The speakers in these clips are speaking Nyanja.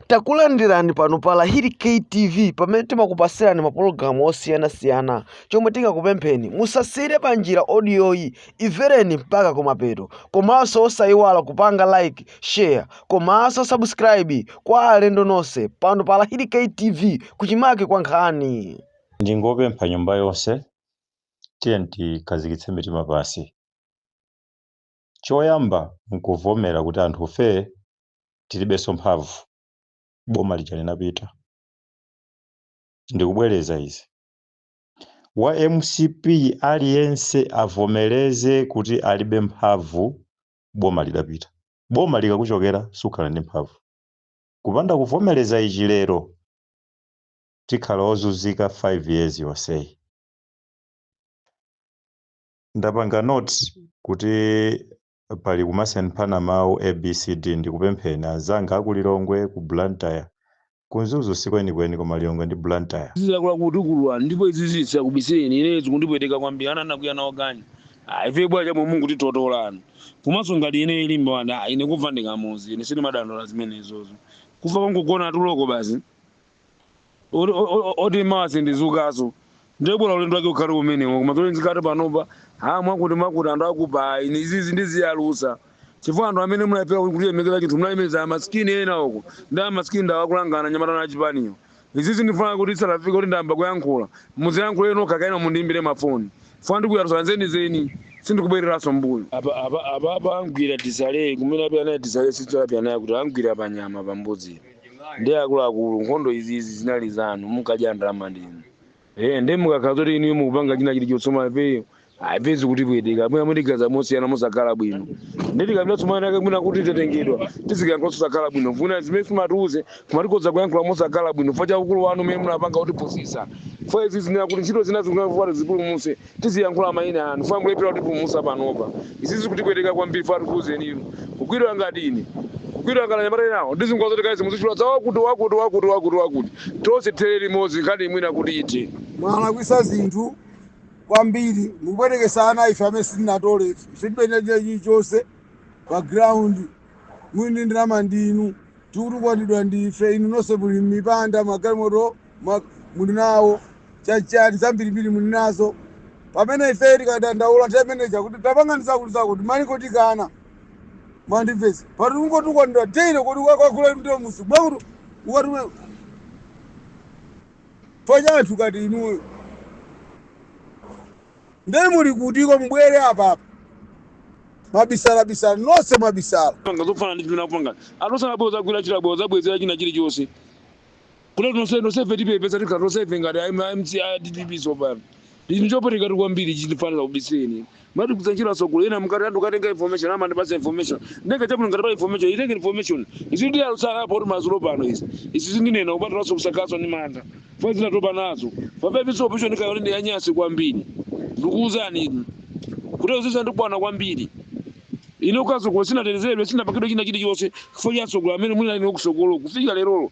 takulandirani pano pa lahiri ktv pamene timakupasirani mapulogalamu osiyanasiyana chomwe tingakupempheni musasiyire pa njira odiyoyi imvereni mpaka kumapeto komanso osayiwala kupanga like share komanso subscribe kwa alendo nonse pano pa lahiri ktv kuchimake kwa nkhani ndingopempha nyumba yonse tiyeni tikhazikitse mitima pansi choyamba nkuvomera kuti anthufe tilibenso mphamvu boma lija linapita ndikubwereza izi wa mcp aliyense avomereze kuti alibe mphamvu boma lidapita boma likakuchokera sukhala ndi mphamvu kupanda kuvomereza ichi lero tikhala ozunzika 5 years yonseyi ndapanga notes kuti pali kumasemphana mawu A B C D ndikupempheni anzanga aku Lilongwe, ku Blantyre, ku Mzuzu sikwenikweni koma Lilongwe ndi Blantyre. Izi zakula kutukulwa ndipo izizi sindikubisirani ineyo zikundipweteka kwambiri ana anakwiya nawo ganyu ah ifeyo bwanji amwe mungotitolanu komanso ngati ineyo limbe ah ine kufa ndikamuzi ine sindimadandaula zimenezozo kufa kongogona tuloko basi. oti- o- o- oti mwina sindidzukanso ndibwera ulendo wake ukhale umenewo koma zoti zikati panopa ha mwakuti mwakuti anthu akuba inu izizi ndiziyalusa chifukwa anthu amene munalephera kulemekeza chinthu munalemeza amasikini ena uko ndi amasikini ndawo akulanga anyamata a chipaniyo izizi ndifuna kuti salafika kuti ndayamba kuyankhula muziyankhule nokha kaena mundiimbire mafoni funa ndikuyalusa zenizeni sindikubwereranso m'mbuyo apa apa apa apa angwira tisale kumene apyanaye tisale sitso apyanaye kuti angwira panyama pambuzi ndi akuluakulu nkhondo izi izi zinali zanu munkadya ndalama ndinu eh ndi mukakhala zoti inu mukupanga china chili chotsoma ifeyo mapenzi kuti bwedeka mwina mutigaza mosiyana musakhala bwino ndi tikapita Tsoka yake mwina kuti titengedwa tizikayankhula susakhala bwino vuna zimene mumatiuza mumatiletsa kuyankhula musakhala bwino chifukwa cha ukulu wanu umene munapanga kutipusitsa fa izi ndinena kuti ntchito zina zikufuna kuti zipulumuse tiziyankhula maina anu fam mukulephera kutipulumutsa panopa izi zikutipweteka kwambiri fo atikuuzeni inu kugwidwa ngati ine kugwidwa ngati anyamata enawo ndizingowauza kuti kaya muzitchula za wakuti wakuti wakuti wakuti wakuti tonse tithere limodzi nkhaniyi mwina kuti ithe mwalakwisa zinthu kwambiri mukupweteketsa ana ife amene sitinatole ife ife tinapeza chilichonse pa ground mwini wa ndalama ndinu tikutukwanidwa ndi ife inu nonse muli m'mipanda magalimoto ma- muli nawo chachani zambirimbiri muli nazo pamene ife tikadandaula temeneja kuti tapangani zakuti zakuti malingo tikanamandivesi pati ungotukwanira daily kuti ukakwakula mtiro musi mwakuti ukatume pachatu ngati inuyo nde muli kutiko mubwere apapa mabisalabisala nonse mabisala panga zofanana ndi zimene akupanga atosana abwera azagwira ntchito abwera azabwezera china chilichonse Kuno tonse tonse ife tipepesa tikhala tonse ife ngati a MCP a DPP tsopano. Ichi ndi chopweteka kwambiri ichi ndifunika kubiseni. Mati kusanjira security ena mukati anthu akatenga information amandipasa information. Ndenge chakuno ngati pa information itenge information. Izi ndi alusala apo kuti madzulo ano izi. Izi zindinena kupatula sokusakaso ndi mantha. Fazila tatopa nazo. Papepi so option kayone ndi yanyasi kwambiri. Ndikuuzani inu. Kuti uzisa ndikwana kwambiri. Ine ukasokola sinatetezedwe sinapakidwe china chilichonse chifukwa cha asogoleri amene muli nawo ukusogolo kufikira lerolo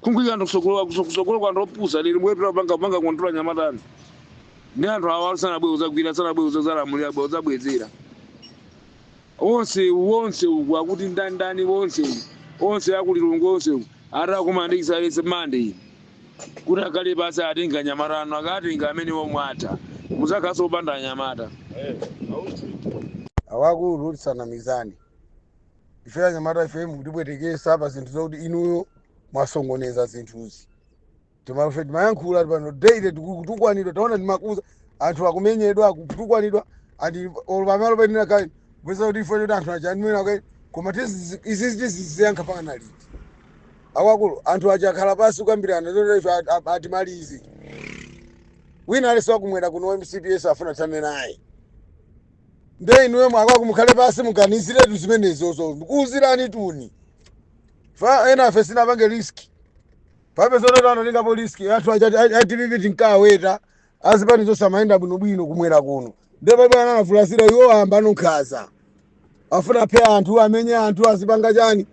kuika anthu kusogolo kusogolo kwa anthu opusa lero mwetu apanga panga kontola anyamata ndi anthu awa sanabwere kuzagwira sanabwere kuzalamulira abwera kuzabwezera onse wonse uku akuti ndani ndani wonse uku onse aku Lilongwe onse uku ati akumandikisa alese mande iyi kuti akhale pansi atenga anyamata anu akatenga amene womwata muzakhaso opanda anyamata akuluakulu tisanamizane ife anyamata ife mukutipwetekesa pa zinthu zakuti inuyo mwasokoneza zinthuzi timaife timayankhula pano daily tikutukwanidwa taona timakuuzani anthu akumenyedwa akutukwanidwa and olo pamalo painena kayi kupeza kuti ife toti anthu achanimena kayi koma tizizi- izizi tiziziyankha mpakana liti akuluakulu anthu aja akhala pansi kukambirana zoti ife at- at- atimalize wina aliyense wakumwera kuno mcp ese afuna athane naye nde inuyo akuluakulu mukhale pansi muganiziretu zimenezozo ndikuuzirani tu chifukwa enafe sinapange risk pachabetu anatengapo risk anthu a chipani a dpp tinkaweta azipani zonse amayenda bwinobwino kumwera kuno nde pamene analamulirira iwo ayamba ankhanza afuna aphe anthu amenye anthu azipanga chani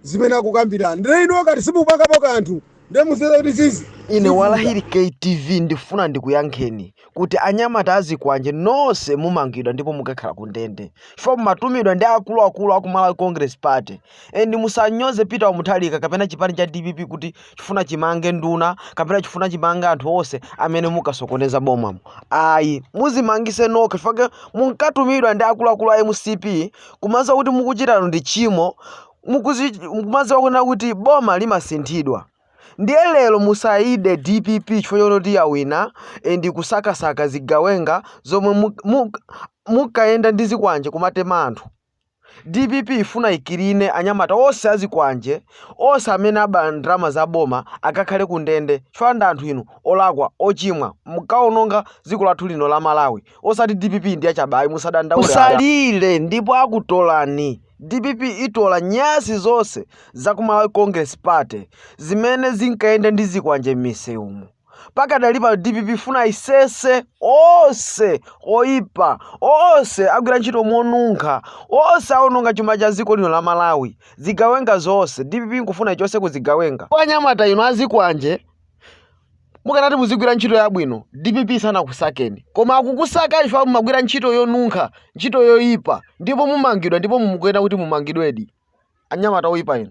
zimene akukambirana nde inuyo ngati simupangapo kanthu ndiye muziwe kuti izi ine wa lahiri ktv ndifuna ndikuyankheni kuti anyamata azikwanje nonse mumangidwa ndipo mukakhala ku ndende chifukwa mumatumidwa ndi akuluakulu aku malawi congress party and musanyoze peter wa mutharika kapena chipani cha dpp kuti chifuna chimange nduna kapena chifuna chimange anthu onse amene mukasokoneza bomamo ayi muzimangise nokha chifukwa munkatumidwa ndi akuluakulu a mcp kumaziwa kuti mukuchitanu ndi tchimo mukuzi- mukumadziwa kunena kuti boma limasinthidwa ndiye lero musayide dpp chifukwa choti yawina and kusakasaka zigawenga zomwe mu- mu- munkayenda ndi zikwanje kumatema anthu dpp ifuna ikirine anyamata onse azikwanje onse amene aba ndalama za boma akakhale ku ndende chifukwa ndi anthu inu olakwa ochimwa munkaononga dziko lathu lino la malawi osati dpp ndi yachabayi musadandaule musalire ndipo akutolani Dpp itola nyasi zonse za ku Malawi Congress Party zimene zinkayenda ndi zikwanje m'misewumu. Pakadali pano dpp ifuna isese onse oyipa, onse agwira ntchito monunkha, onse awononga chuma cha dziko lino la Malawi, zigawenga zonse. Dpp ikufuna ichose ku zigawenga. Anyamata inu azikwanje, mukanati muzigwira ntchito yabwino dpp sinakakusakani koma akukusaka chifukwa mumagwira ntchito yonunkha ntchito yoyipa ndipo mumangidwa ndipo inu mukuyenera kuti mumangidwedi anyamata oyipa inu